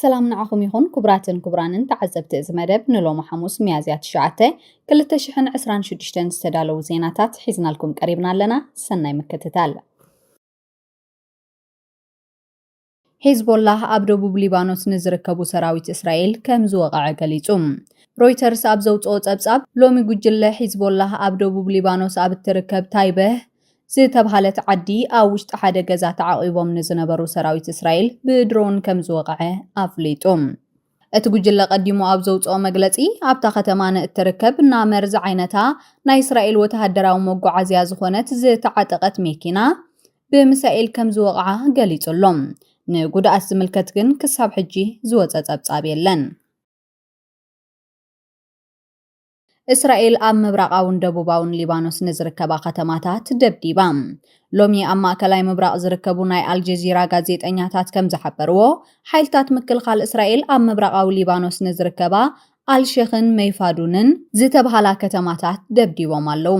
ሰላም ንዓኹም ይኹን ኩቡራትን ኩቡራንን ተዓዘብቲ እዚ መደብ ንሎሚ ሓሙስ ሚያዝያ ትሽዓተ ክልተ ሽሕን ዕስራን ሽዱሽተን ዝተዳለዉ ዜናታት ሒዝናልኩም ቀሪብና ኣለና ሰናይ ምክትታል። ሒዝቦላህ ኣብ ደቡብ ሊባኖስ ንዝርከቡ ሰራዊት እስራኤል ከም ዝወቐዐ ገሊጹ። ሮይተርስ ኣብ ዘውጽኦ ጸብጻብ ሎሚ ጉጅለ ሒዝቦላህ ኣብ ደቡብ ሊባኖስ ኣብ እትርከብ ታይበህ ዝተብሃለት ዓዲ ኣብ ውሽጢ ሓደ ገዛ ተዓቚቦም ንዝነበሩ ሰራዊት እስራኤል ብድሮን ከም ዝወቕዐ ኣፍሊጡ። እቲ ጉጅለ ቀዲሙ ኣብ ዘውጽኦ መግለጺ፣ ኣብታ ከተማ ንእትርከብ ናመር ዝዓይነታ ናይ እስራኤል ወተሃደራዊ መጓዓዝያ ዝኾነት ዝተዓጠቐት መኪና ብሚሳኤል ከም ዝወቕዓ ገሊጹ ኣሎ። ንጉድኣት ዝምልከት ግን ክሳብ ሕጂ ዝወጸ ጸብጻብ የለን። እስራኤል ኣብ ምብራቓውን ደቡባውን ሊባኖስ ንዝርከባ ከተማታት ደብዲባ። ሎሚ ኣብ ማእከላይ ምብራቕ ዝርከቡ ናይ ኣልጀዚራ ጋዜጠኛታት ከም ዝሓበርዎ፣ ሓይልታት ምክልኻል እስራኤል ኣብ ምብራቓዊ ሊባኖስ ንዝርከባ ኣልሸኽን መይፋዱንን ዝተብሃላ ከተማታት ደብዲቦም ኣለዉ።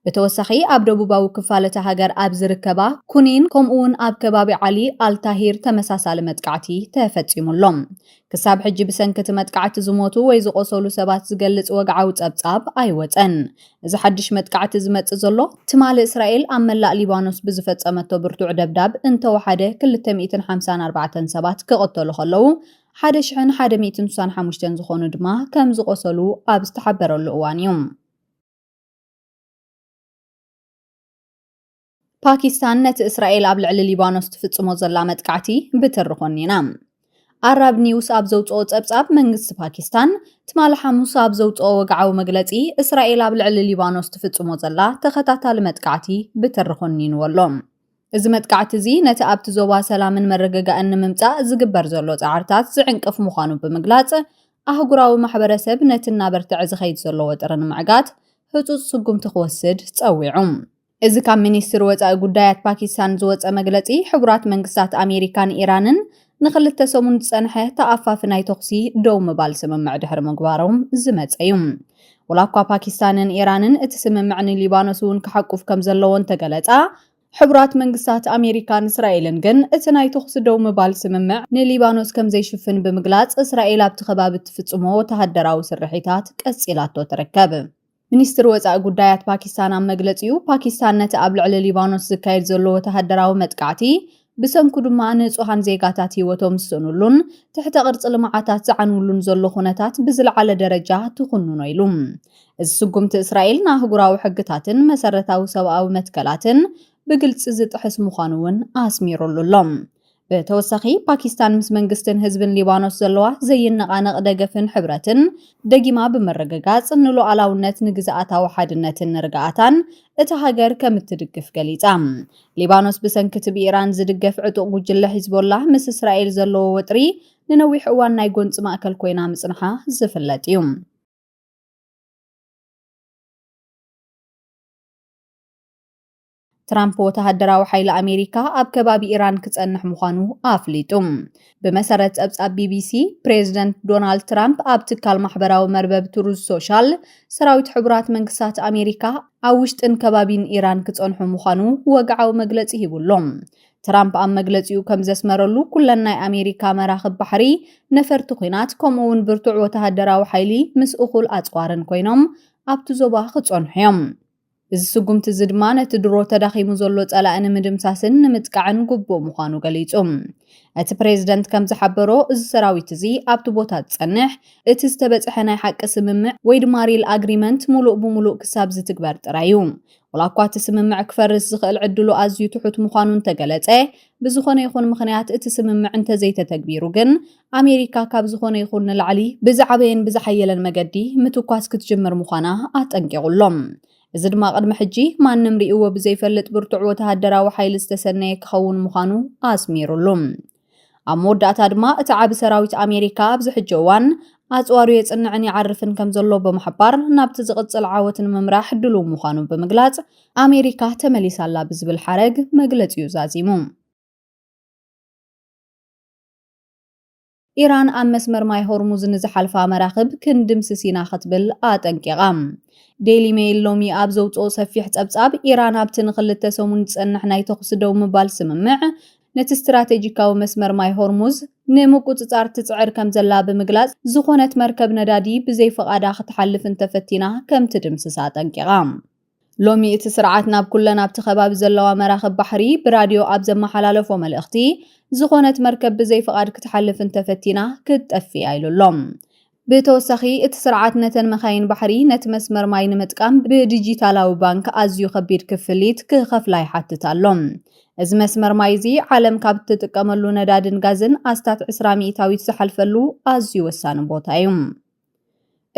ብተወሳኺ ኣብ ደቡባዊ ክፋል እታ ሃገር ኣብ ዝርከባ ኩኒን ከምኡ'ውን ኣብ ከባቢ ዓሊ ኣልታሂር ተመሳሳሊ መጥቃዕቲ ተፈጺሙ ኣሎ። ክሳብ ሕጂ ብሰንኪ እቲ መጥቃዕቲ ዝሞቱ ወይ ዝቖሰሉ ሰባት ዝገልጽ ወግዓዊ ጸብጻብ ኣይወጸን። እዚ ሓድሽ መጥቃዕቲ ዝመጽእ ዘሎ፣ ትማሊ እስራኤል ኣብ መላእ ሊባኖስ ብዝፈጸመቶ ብርቱዕ ደብዳብ እንተወሓደ ክልተ ሚእትን ሓምሳን ኣርባዕተን ሰባት ክቕተሉ ከለዉ፣ ሓደ ሽሕን ሓደ ሚእትን ስሳን ሓሙሽተን ዝኾኑ ድማ ከምዝቖሰሉ ኣብ ዝተሓበረሉ እዋን እዩ። ፓኪስታን ነቲ እስራኤል ኣብ ልዕሊ ሊባኖስ ትፍጽሞ ዘላ መጥቃዕቲ ብትሪ ኮኒና። ኣራብ ኒውስ ኣብ ዘውፅኦ ጸብጻብ መንግስቲ ፓኪስታን ትማሊ ሓሙስ ኣብ ዘውፅኦ ወግዓዊ መግለፂ እስራኤል ኣብ ልዕሊ ሊባኖስ ትፍጽሞ ዘላ ተኸታታሊ መጥቃዕቲ ብትሪ ኮኒንዎ ኣሎ። እዚ መጥቃዕቲ እዚ ነቲ ኣብቲ ዞባ ሰላምን መረገጋእን ንምምጻእ ዝግበር ዘሎ ጻዕርታት ዝዕንቅፍ ምዃኑ ብምግላጽ፣ ኣህጉራዊ ማሕበረሰብ ነቲ እናበርትዐ ዝኸይድ ዘሎ ወጥሪ ንምዕጋት ህጹጽ ስጉምቲ ክወስድ ጸዊዑ። እዚ ካብ ሚኒስትሪ ወጻኢ ጉዳያት ፓኪስታን ዝወጸ መግለጺ፣ ሕቡራት መንግስታት ኣሜሪካን ኢራንን ንክልተ ሰሙን ዝጸንሐ ተኣፋፊ ናይ ተኹሲ ደው ምባል ስምምዕ ድሕሪ ምግባሮም ዝመጸ እዩ። ወላ እኳ ፓኪስታንን ኢራንን እቲ ስምምዕ ንሊባኖስ እውን ክሓቁፍ ከም ዘለዎ እንተገለጻ፣ ሕቡራት መንግስታት ኣሜሪካን እስራኤልን ግን እቲ ናይ ተኹሲ ደው ምባል ስምምዕ ንሊባኖስ ከም ዘይሽፍን ብምግላጽ፣ እስራኤል ኣብቲ ከባቢ እትፍጽሞ ወተሃደራዊ ስርሒታት ቀጺላቶ ትርከብ። ሚኒስትሪ ወጻኢ ጉዳያት ፓኪስታን ኣብ መግለጺኡ፣ ፓኪስታን ነቲ ኣብ ልዕሊ ሊባኖስ ዝካየድ ዘሎ ወተሃደራዊ መጥቃዕቲ፣ ብሰንኩ ድማ ንጹሃን ዜጋታት ህይወቶም ዝስእኑሉን ትሕተ ቅርጺ ልምዓታት ዝዓንውሉን ዘሎ ኩነታት ብዝለዓለ ደረጃ ትኹንኖ ኢሉ። እዚ ስጉምቲ እስራኤል ንኣህጉራዊ ሕግታትን መሰረታዊ ሰብኣዊ መትከላትን ብግልጺ ዝጥሕስ ምዃኑ እውን ኣስሚሩሉ ኣሎ። ብተወሳኺ ፓኪስታን ምስ መንግስትን ህዝብን ሊባኖስ ዘለዋ ዘይነቓነቕ ደገፍን ሕብረትን ደጊማ ብምርግጋጽ ንሉዓላውነት፣ ንግዝኣታዊ ሓድነትን ንርግኣታን እታ ሃገር ከም እትድግፍ ገሊጻ። ሊባኖስ ብሰንኪ'ቲ ብኢራን ዝድገፍ ዕጡቕ ጉጅለ ሒዝቦላህ ምስ እስራኤል ዘለዎ ወጥሪ ንነዊሕ እዋን ናይ ጎንጺ ማእከል ኮይና ምጽንሓ ዝፍለጥ እዩ። ትራምፕ ወተሃደራዊ ሓይሊ ኣሜሪካ ኣብ ከባቢ ኢራን ክጸንሕ ምዃኑ ኣፍሊጡ። ብመሰረት ጸብጻብ ቢቢሲ፣ ፕሬዚደንት ዶናልድ ትራምፕ ኣብ ትካል ማሕበራዊ መርበብ ትሩዝ ሶሻል፣ ሰራዊት ሕቡራት መንግስታት ኣሜሪካ ኣብ ውሽጥን ከባቢን ኢራን ክጸንሑ ምዃኑ ወግዓዊ መግለጺ ሂቡ ኣሎ። ትራምፕ ኣብ መግለጺኡ ከም ዘስመረሉ ኩለን ናይ ኣሜሪካ መራኽብ ባሕሪ፣ ነፈርቲ ኲናት ከምኡ እውን ብርቱዕ ወተሃደራዊ ሓይሊ ምስ እኹል ኣጽዋርን ኮይኖም ኣብቲ ዞባ ክጸንሑ እዮም። እዚ ስጉምቲ እዚ ድማ ነቲ ድሮ ተዳኺሙ ዘሎ ጸላኢ ንምድምሳስን ንምጥቃዕን ግቡእ ምዃኑ ገሊጹ። እቲ ፕሬዝደንት ከም ዝሓበሮ እዚ ሰራዊት እዚ ኣብቲ ቦታ ዝጸንሕ እቲ ዝተበጽሐ ናይ ሓቂ ስምምዕ ወይ ድማ ሪል ኣግሪመንት ሙሉእ ብሙሉእ ክሳብ ዝትግበር ጥራይ እዩ። ዋላ እኳ እቲ ስምምዕ ክፈርስ ዝኽእል ዕድሉ ኣዝዩ ትሑት ምዃኑ እንተገለጸ፣ ብዝኾነ ይኹን ምኽንያት እቲ ስምምዕ እንተዘይተተግቢሩ ግን ኣሜሪካ ካብ ዝኾነ ይኹን ንላዕሊ ብዝዓበየን ብዝሓየለን መገዲ ምትኳስ ክትጅምር ምዃና ኣጠንቂቑ'ሎ። እዚ ድማ ቅድሚ ሕጂ ማንም ርእይዎ ብዘይፈልጥ ብርቱዕ ወተሃደራዊ ሓይሊ ዝተሰነየ ክኸውን ምዃኑ ኣስሚሩሉ። ኣብ መወዳእታ ድማ እቲ ዓቢ ሰራዊት ኣሜሪካ ኣብዚ ሕጂ እዋን ኣጽዋሩ የጽንዕን ይዓርፍን ከም ዘሎ ብምሕባር ናብቲ ዝቕጽል ዓወት ንምምራሕ ድሉው ምዃኑ ብምግላጽ ኣሜሪካ ተመሊሳላ ብዝብል ሓረግ መግለጺኡ ዛዚሙ። ኢራን ኣብ መስመር ማይ ሆርሙዝ ንዝሓልፋ መራኽብ ክንድምስስ ኢና ክትብል ኣጠንቂቓ። ዴይሊ ሜይል ሎሚ ኣብ ዘውጽኦ ሰፊሕ ጸብጻብ፣ ኢራን ኣብቲ ንኽልተ ሰሙን ዝጸንሕ ናይ ተዅሲ ደው ምባል ስምምዕ፣ ነቲ ስትራቴጂካዊ መስመር ማይ ሆርሙዝ ንምቍጽጻር ትጽዕር ከምዘላ ብምግላጽ፣ ዝዀነት መርከብ ነዳዲ ብዘይፍቓዳ ክትሓልፍ እንተፈቲና ከም ትድምስሳ ኣጠንቂቓ። ሎሚ እቲ ስርዓት ናብ ኩለን ኣብቲ ከባቢ ዘለዋ መራኽብ ባሕሪ ብራድዮ ኣብ ዘመሓላለፎ መልእኽቲ ዝኾነት መርከብ ብዘይ ፍቓድ ክትሓልፍ እንተፈቲና ክትጠፍእ እያ ኢሉ ኣሎ። ብተወሳኺ እቲ ስርዓት ነተን መካይን ባሕሪ ነቲ መስመር ማይ ንምጥቃም ብዲጂታላዊ ባንክ ኣዝዩ ከቢድ ክፍሊት ክኸፍላ ይሓትት ኣሎ። እዚ መስመር ማይ እዚ ዓለም ካብ እትጥቀመሉ ነዳድን ጋዝን ኣስታት ዕስራ ሚኢታዊት ዝሓልፈሉ ኣዝዩ ወሳኒ ቦታ እዩ።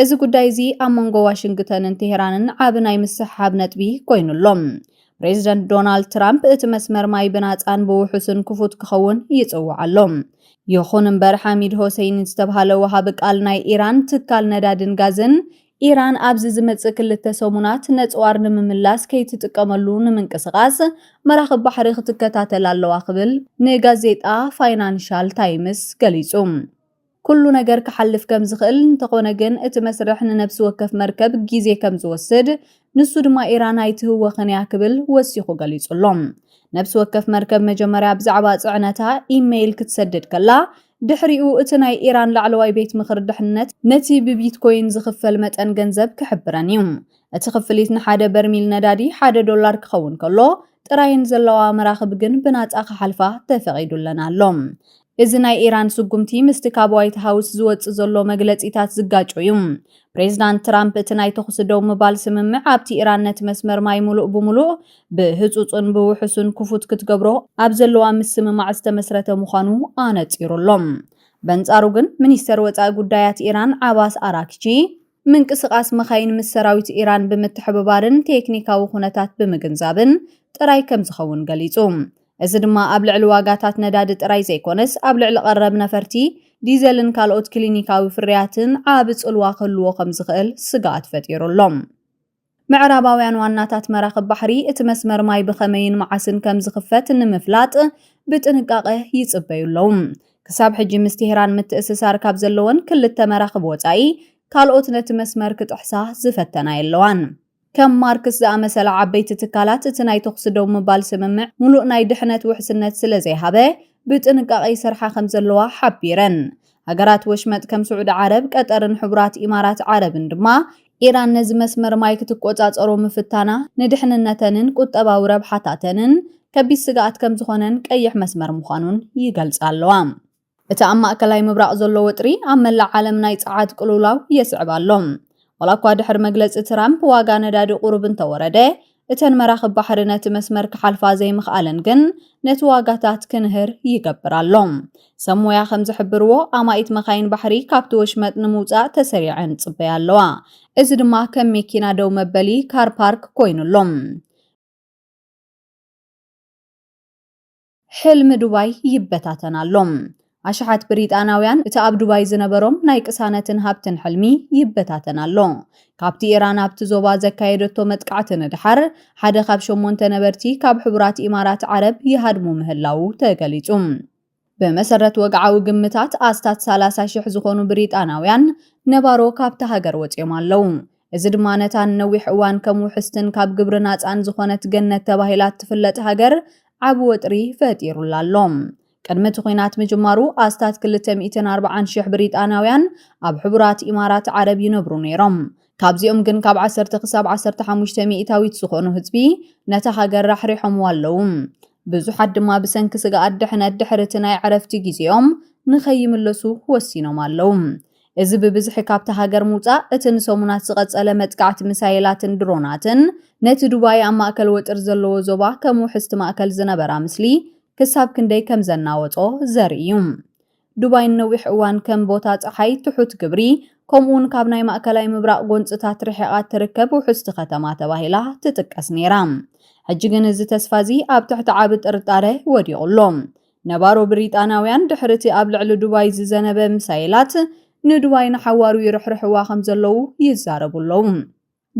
እዚ ጉዳይ እዚ ኣብ መንጎ ዋሽንግተንን ቴሄራንን ዓቢ ናይ ምስሕሓብ ነጥቢ ኮይኑ ኣሎ። ፕሬዚደንት ዶናልድ ትራምፕ እቲ መስመር ማይ ብናጻን ብውሑስን ክፉት ክኸውን ይጽውዕ ኣሎ። ይኹን እምበር ሓሚድ ሆሴይኒ ዝተብሃለ ወሃቢ ቃል ናይ ኢራን ትካል ነዳድን ጋዝን ኢራን ኣብዚ ዝመጽእ ክልተ ሰሙናት ነጽዋር ንምምላስ ከይትጥቀመሉ ንምንቅስቓስ መራኽብ ባሕሪ ክትከታተል ኣለዋ ክብል ንጋዜጣ ፋይናንሻል ታይምስ ገሊጹ። ኩሉ ነገር ክሓልፍ ከም ዝኽእል፣ እንተኾነ ግን እቲ መስርሕ ንነብሲ ወከፍ መርከብ ግዜ ከም ዝወስድ፣ ንሱ ድማ ኢራን ኣይትህወኽን እያ ክብል ወሲኹ ገሊጹ ኣሎ። ነብሲ ወከፍ መርከብ መጀመርያ ብዛዕባ ጽዕነታ ኢመይል ክትሰድድ ከላ፣ ድሕሪኡ እቲ ናይ ኢራን ላዕለዋይ ቤት ምኽሪ ድሕነት ነቲ ብቢትኮይን ዝኽፈል መጠን ገንዘብ ክሕብረን እዩ። እቲ ክፍሊት ንሓደ በርሚል ነዳዲ ሓደ ዶላር ክኸውን ከሎ፣ ጥራየን ዘለዋ መራኽብ ግን ብናጻ ክሓልፋ ተፈቒዱለን ኣሎ። እዚ ናይ ኢራን ስጉምቲ ምስቲ ካብ ዋይት ሃውስ ዝወጽእ ዘሎ መግለጺታት ዝጋጮ እዩ። ፕሬዝዳንት ትራምፕ እቲ ናይ ተኹሲ ደው ምባል ስምምዕ ኣብቲ ኢራን ነቲ መስመር ማይ ምሉእ ብምሉእ ብህጹጽን ብውሑስን ክፉት ክትገብሮ ኣብ ዘለዋ ምስምማዕ ዝተመስረተ ምዃኑ ኣነጺሩ ኣሎ። በንጻሩ ግን ሚኒስተር ወጻኢ ጉዳያት ኢራን ዓባስ ኣራክቺ፣ ምንቅስቓስ መኻይን ምስ ሰራዊት ኢራን ብምትሕብባርን ቴክኒካዊ ኩነታት ብምግንዛብን ጥራይ ከም ዝኸውን ገሊጹ። እዚ ድማ ኣብ ልዕሊ ዋጋታት ነዳዲ ጥራይ ዘይኮነስ ኣብ ልዕሊ ቀረብ ነፈርቲ፣ ዲዘልን ካልኦት ክሊኒካዊ ፍርያትን ዓቢ ጽልዋ ክህልዎ ከም ዝኽእል ስግኣት ፈጢሩ ኣሎ። ምዕራባውያን ዋናታት መራኽብ ባሕሪ እቲ መስመር ማይ ብኸመይን መዓስን ከም ዝኽፈት ንምፍላጥ ብጥንቃቐ ይጽበዩ ኣለዉ። ክሳብ ሕጂ ምስ ቴህራን ምትእስሳር ካብ ዘለወን ክልተ መራኽብ ወጻኢ ካልኦት ነቲ መስመር ክጥሕሳ ዝፈተና የለዋን። ከም ማርክስ ዝኣመሰላ ዓበይቲ ትካላት እቲ ናይ ተኹሲ ደው ምባል ስምምዕ ምሉእ ናይ ድሕነት ውሕስነት ስለ ዘይሃበ ብጥንቃቐ ይሰርሓ ከም ዘለዋ ሓቢረን። ሃገራት ወሽመጥ ከም ስዑዲ ዓረብ፣ ቀጠርን ሕቡራት ኢማራት ዓረብን ድማ ኢራን ነዚ መስመር ማይ ክትቆጻጸሮ ምፍታና ንድሕንነተንን ቁጠባዊ ረብሓታተንን ከቢድ ስግኣት ከምዝኾነን ቀይሕ መስመር ምዃኑን ይገልጻ ኣለዋ። እቲ ኣብ ማእከላይ ምብራቕ ዘሎ ወጥሪ ኣብ መላእ ዓለም ናይ ጸዓት ቅልውላው የስዕብ ኣሎ። ዋላኳ ድሕሪ መግለጺ ትራምፕ ዋጋ ነዳዲ ቁሩብ እንተወረደ፣ እተን መራኽብ ባሕሪ ነቲ መስመር ክሓልፋ ዘይምኽኣለን ግን ነቲ ዋጋታት ክንህር ይገብር ኣሎ። ሰብ ሞያ ከም ዝሕብርዎ፣ ኣማኢት መካይን ባሕሪ ካብቲ ወሽመጥ ንምውጻእ ተሰሪዐን ይጽበያ ኣለዋ። እዚ ድማ ከም መኪና ደው መበሊ፣ ካር ፓርክ፣ ኮይኑ ኣሎ። ሕልሚ ዱባይ ይበታተን ኣሎ። ኣሽሓት ብሪጣንያውያን እቲ ኣብ ዱባይ ዝነበሮም ናይ ቅሳነትን ሃብትን ሕልሚ ይበታተን ኣሎ። ካብቲ ኢራን ኣብቲ ዞባ ዘካየደቶ መጥቃዕቲ ንደሓር፣ ሓደ ካብ ሸሞንተ ነበርቲ ካብ ሕቡራት ኢማራት ዓረብ ይሃድሙ ምህላዉ ተገሊጹ። ብመሰረት ወግዓዊ ግምታት፣ ኣስታት ሰላሳ ሽሕ ዝኾኑ ብሪጣንያውያን ነባሮ ካብታ ሃገር ወጺኦም ኣለዉ። እዚ ድማ ነታ ንነዊሕ እዋን ከም ውሕስትን ካብ ግብሪ ናጻን ዝኾነት ገነት ተባሂላ እትፍለጥ ሃገር ዓቢ ወጥሪ ፈጢሩላ ኣሎ። ቅድሚ እቲ ኲናት ምጅማሩ ኣስታት ክልተ ሚእትን ኣርብዓን ሽሕ ብሪጣንያውያን ኣብ ሕቡራት ኢማራት ዓረብ ይነብሩ ነይሮም። ካብዚኦም ግን ካብ ዓሰርተ ክሳብ ዓሰርተ ሓሙሽተ ሚእታዊት ዝኾኑ ህዝቢ ነታ ሃገር ራሕሪሖምዋ ኣለዉ። ብዙሓት ድማ ብሰንኪ ስግኣት ድሕነት ድሕሪ እቲ ናይ ዕረፍቲ ግዜኦም ንኸይምለሱ ወሲኖም ኣለዉ። እዚ ብብዝሒ ካብታ ሃገር ምውጻእ፣ እቲ ንሰሙናት ዝቐጸለ መጥቃዕቲ ሚሳይላትን ድሮናትን፣ ነቲ ዱባይ ኣብ ማእከል ወጥሪ ዘለዎ ዞባ ከም ውሕስቲ ማእከል ዝነበራ ምስሊ ክሳብ ክንደይ ከም ዘናወጾ ዘርኢ እዩ። ዱባይ ንነዊሕ እዋን ከም ቦታ ጸሓይ፣ ትሑት ግብሪ፣ ከምኡ'ውን ካብ ናይ ማእከላይ ምብራቕ ጎንጽታት ርሒቓ እትርከብ ውሕስቲ ከተማ ተባሂላ ትጥቀስ ነይራ። ሕጂ ግን እዚ ተስፋ እዚ ኣብ ትሕቲ ዓቢ ጥርጣረ ወዲቑ ኣሎ። ነባሮ ብሪጣንያውያን ድሕሪ'ቲ ኣብ ልዕሊ ዱባይ ዝዘነበ ሚሳይላት፣ ንዱባይ ንሓዋሩ ይርሕርሕዋ ከም ዘለዉ ይዛረቡ ኣለዉ።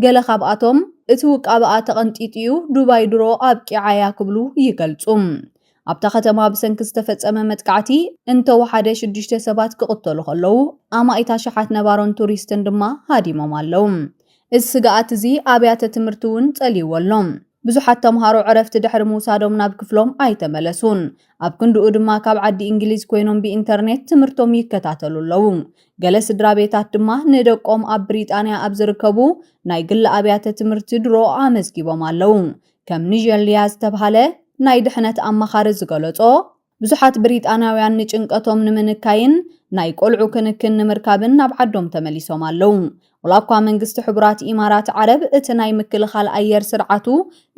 ገለ ካብኣቶም፣ እቲ ውቃበኣ ተቐንጢጡ'ዩ፣ ዱባይ ድሮ ኣብቂዓ'ያ ክብሉ ይገልጹ። ኣብታ ከተማ ብሰንኪ ዝተፈጸመ መጥቃዕቲ እንተ ወሓደ ሽዱሽተ ሰባት ክቕተሉ ከለዉ፣ ኣማኢት ኣሽሓት ነባሮን ቱሪስትን ድማ ሃዲሞም ኣለዉ። እዚ ስግኣት'ዚ ኣብያተ ትምህርቲ'ውን ጸልይዎ ኣሎ። ብዙሓት ተምሃሮ ዕረፍቲ ድሕሪ ምውሳዶም ናብ ክፍሎም ኣይተመለሱን። ኣብ ክንድኡ ድማ ካብ ዓዲ እንግሊዝ ኮይኖም ብኢንተርኔት ትምህርቶም ይከታተሉ ኣለዉ። ገለ ስድራቤታት ድማ ንደቆም ኣብ ብሪጣንያ ኣብ ዝርከቡ ናይ ግሊ ኣብያተ ትምህርቲ ድሮ ኣመዝጊቦም ኣለዉ። ከም ኒጀል ሊያ ዝተብሃለ ናይ ድሕነት ኣማኻሪ ዝገለጾ፣ ብዙሓት ብሪጣንያውያን ንጭንቀቶም ንምንካይን ናይ ቆልዑ ክንክን ንምርካብን ናብ ዓዶም ተመሊሶም ኣለዉ። ዋላኳ መንግስቲ ሕቡራት ኢማራት ዓረብ እቲ ናይ ምክልኻል ኣየር ስርዓቱ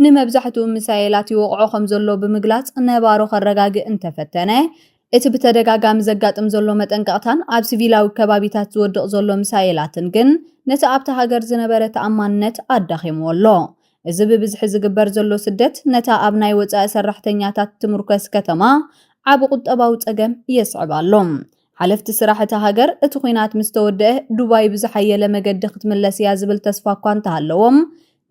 ንመብዛሕትኡ ሚሳኤላት ይወቕዖ ከምዘሎ ብምግላጽ ነባሮ ከረጋግእ እንተፈተነ፣ እቲ ብተደጋጋሚ ዘጋጥም ዘሎ መጠንቀቕታን ኣብ ሲቪላዊ ከባቢታት ዝወድቕ ዘሎ ሚሳኤላትን ግን ነቲ ኣብታ ሃገር ዝነበረ ተኣማንነት ኣዳኺምዎ ኣሎ። እዚ ብብዝሒ ዝግበር ዘሎ ስደት ነታ ኣብ ናይ ወጻኢ ሰራሕተኛታት ትምርኮስ ከተማ ዓቢ ቁጠባዊ ጸገም የስዕብ ኣሎ። ሓለፍቲ ስራሕ እታ ሃገር እቲ ኲናት ምስ ተወደኣ ዱባይ ብዝሓየለ መገዲ ክትምለስ እያ ዝብል ተስፋ እኳ እንተሃለዎም፣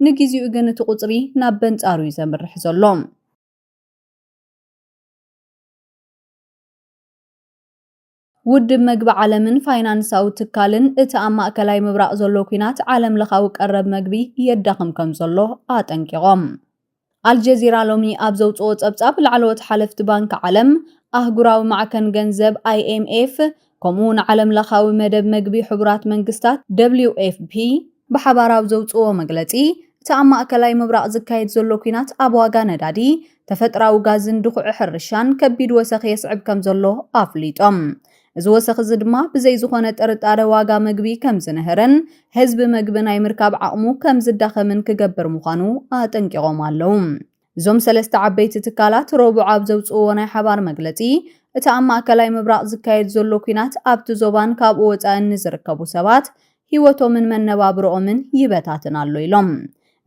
ንግዜኡ ግን እቲ ቁጽሪ ናብ በንጻሩ እዩ ዘምርሕ ዘሎ። ውድብ መግቢ ዓለምን ፋይናንሳዊ ትካልን እቲ ኣብ ማእከላይ ምብራቕ ዘሎ ኲናት ዓለም ለኻዊ ቀረብ መግቢ የዳኽም ከም ዘሎ ኣጠንቂቖም። ኣልጀዚራ ሎሚ ኣብ ዘውጽኦ ጸብጻብ ላዕለዎት ሓለፍቲ ባንኪ ዓለም፣ ኣህጉራዊ ማዕከን ገንዘብ ኣይኤምኤፍ ከምኡ'ውን ዓለም ለኻዊ መደብ መግቢ ሕቡራት መንግስታት ደብሊውኤፍፒ፣ ብሓባር ኣብ ዘውጽእዎ መግለጺ፣ እቲ ኣብ ማእከላይ ምብራቕ ዝካየድ ዘሎ ኲናት ኣብ ዋጋ ነዳዲ፣ ተፈጥራዊ ጋዝን ድኹዒ ሕርሻን ከቢድ ወሰኽ የስዕብ ከምዘሎ ኣፍሊጦም። እዚ ወሰኽ እዚ ድማ ብዘይ ዝኾነ ጥርጣረ ዋጋ መግቢ ከምዝንህርን ህዝቢ መግቢ ናይ ምርካብ ዓቕሙ ከምዝዳኸምን ክገብር ምዃኑ ኣጠንቂቖም ኣለዉ። እዞም ሰለስተ ዓበይቲ ትካላት ረቡዕ ኣብ ዘውጽእዎ ናይ ሓባር መግለጺ፣ እቲ ኣብ ማእከላይ ምብራቕ ዝካየድ ዘሎ ኲናት ኣብቲ ዞባን ካብኡ ወጻኢን ንዝርከቡ ሰባት ህይወቶምን መነባብሮኦምን ይበታትን ኣሎ ኢሎም።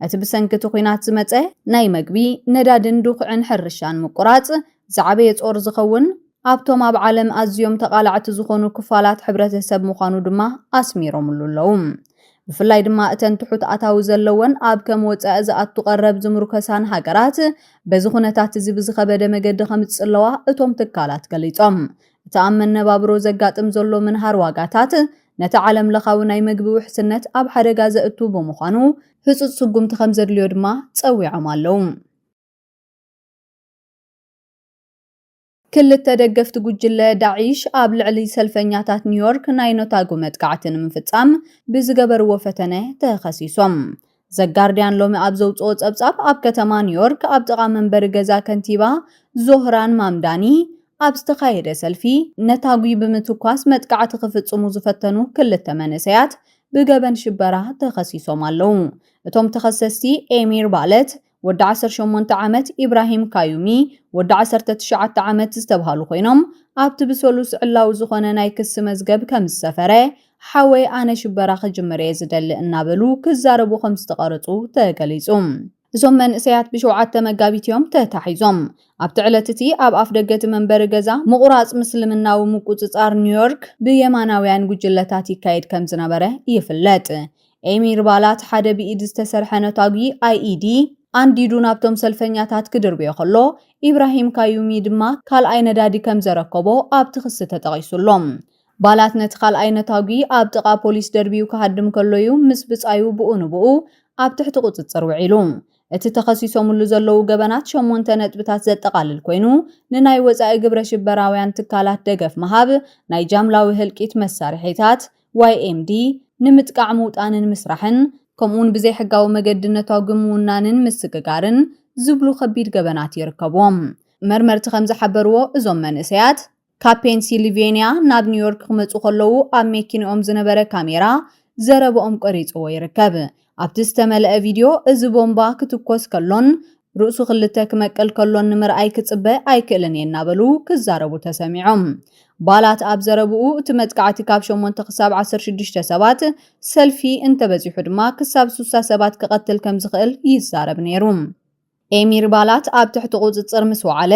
እቲ ብሰንኪ እቲ ኲናት ዝመጸ ናይ መግቢ፣ ነዳዲን ድኹዒን ሕርሻን ምቁራጽ፣ ዝዓበየ ጾር ዝኸውን ኣብቶም ኣብ ዓለም ኣዝዮም ተቓላዕቲ ዝኾኑ ክፋላት ሕብረተሰብ ምዃኑ ድማ ኣስሚሮምሉ ኣለዉ። ብፍላይ ድማ እተን ትሑት ኣታዊ ዘለወን ኣብ ከም ወጻኢ ዝኣቱ ቀረብ ዝምሩከሳን ሃገራት በዚ ኩነታት እዚ ብዝኸበደ መገዲ ከምጽለዋ እቶም ትካላት ገሊጾም። እቲ ኣብ መነባብሮ ዘጋጥም ዘሎ ምንሃር ዋጋታት ነቲ ዓለም ለኻዊ ናይ መግቢ ውሕስነት ኣብ ሓደጋ ዘእቱ ብምዃኑ ህጹጽ ስጉምቲ ከምዘድልዮ ድማ ጸዊዖም ኣለዉ። ክልተ ደገፍቲ ጉጅለ ዳዒሽ ኣብ ልዕሊ ሰልፈኛታት ኒውዮርክ ናይ ኖታጉ መጥቃዕቲ ንምፍጻም ብዝገበርዎ ፈተነ ተኸሲሶም። ዘጋርድያን ሎሚ ኣብ ዘውጽኦ ጸብጻብ ኣብ ከተማ ኒውዮርክ ኣብ ጥቓ መንበሪ ገዛ ከንቲባ ዞህራን ማምዳኒ ኣብ ዝተኻየደ ሰልፊ ነታጒ ብምትኳስ መጥቃዕቲ ክፍጽሙ ዝፈተኑ ክልተ መንእሰያት ብገበን ሽበራ ተኸሲሶም ኣለዉ። እቶም ተኸሰስቲ ኤሚር ባለት፣ ወዲ ዓሰርተ ሸሞንተ ዓመት ኢብራሂም ካዩሚ፣ ወዲ ዓሰርተ ትሽዓተ ዓመት ዝተብሃሉ ኮይኖም፣ ኣብቲ ብሰሉስ ዕላዊ ዝኾነ ናይ ክሲ መዝገብ ከምዝሰፈረ፣ ሓወይ ኣነ ሽበራ ክጅምር እየ ዝደሊ እናበሉ ክዛረቡ ከምዝተቐረጹ ተገሊጹ። እዞም መንእሰያት ብሸውዓተ መጋቢት እዮም ተታሒዞም። ኣብቲ ዕለት እቲ ኣብ ኣፍደገ እቲ መንበሪ ገዛ ምቑራጽ ምስልምናዊ ምቁጽጻር ኒውዮርክ ብየማናውያን ጉጅለታት ይካየድ ከምዝነበረ ይፍለጥ። ኤሚር ባላት ሓደ ብኢድ ዝተሰርሐ ነታጒ IED ኣንዲዱ ናብቶም ሰልፈኛታት ክድርብዮ ከሎ፣ ኢብራሂም ካዩሚ ድማ ካልኣይ ነዳዲ ከምዘረከቦ ኣብቲ ክሲ ተጠቒሱ ኣሎ። ባላት ነቲ ካልኣይ ነታጒ ኣብ ጥቓ ፖሊስ ደርብዩ ክሃድም ከሎ'ዩ ምስ ብጻዩ ብኡ ንብኡ ኣብ ትሕቲ ቁጽጽር ውዒሉ። እቲ ተኸሲሶምሉ ዘለዉ ገበናት ሸሞንተ ነጥብታት ዘጠቓልል ኮይኑ፣ ንናይ ወጻኢ ግብረ-ሽበራውያን ትካላት ደገፍ ምሃብ፣ ናይ ጃምላዊ ህልቂት መሳርሒታት፣ YMD፣ ንምጥቃዕ ምውጣንን ምስራሕን፣ ከምኡ'ውን ብዘይሕጋዊ መገዲ ነታጒ ምውናንን ምስግጋርን ዝብሉ ከቢድ ገበናት ይርከብዎም። መርመርቲ ከም ዝሓበርዎ፣ እዞም መንእሰያት፣ ካብ ፔንሲልቬንያ ናብ ኒውዮርክ ክመጹ ከለዉ ኣብ ሜኪንኦም ዝነበረ ካሜራ ዘረባኦም ቀሪጽዎ ይርከብ። ኣብቲ ዝተመልአ ቪድዮ፣ እዚ ቦምባ ክትኮስ ከሎን ርእሱ ክልተ ክመቅል ከሎን ንምርኣይ ክጽበ ኣይክእልን እየ እናበሉ ክዛረቡ ተሰሚዖም። ባላት ኣብ ዘረብኡ፣ እቲ መጥቃዕቲ ካብ ሸሞንተ ክሳብ ዓሰርተ ሽዱሽተ ሰባት፣ ሰልፊ እንተበዚሑ ድማ ክሳብ ሱሳ ሰባት ክቐትል ከምዝኽእል ይዛረብ ነይሩ። ኤሚር ባላት ኣብ ትሕቲ ቁጽጽር ምስ ወዓለ፣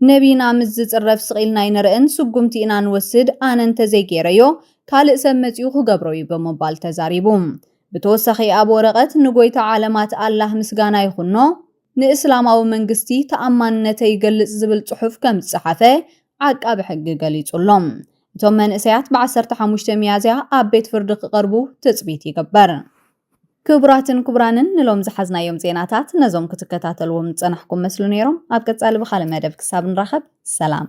ነብይና ምስ ዝጽረፍ ስቕ ኢልና ኣይንርእን፣ ስጉምቲ ኢና ንወስድ፣ ኣነ እንተዘይ ገይረዮ ካልእ ሰብ መጺኡ ክገብሮ'ዩ ብምባል ተዛሪቡ። ብተወሳኺ ኣብ ወረቐት ንጎይታ ዓለማት ኣላህ ምስጋና ይኹኖ፣ ንእስላማዊ መንግስቲ ተኣማንነተይ ይገልጽ ዝብል ጽሑፍ ከም ዝጸሓፈ ዓቃቢ ሕጊ ገሊጹ ኣሎ። እቶም መንእሰያት ብ ዓሰርተ ሓሙሽተ ሚያዝያ ኣብ ቤት ፍርዲ ክቐርቡ ትጽቢት ይግበር። ክቡራትን ክቡራንን ንሎም ዝሓዝናዮም ዜናታት ነዞም ክትከታተልዎም ዝጸናሕኩም መስሉ ነይሮም። ኣብ ቀጻሊ ብኻልእ መደብ ክሳብ ንራኸብ ሰላም።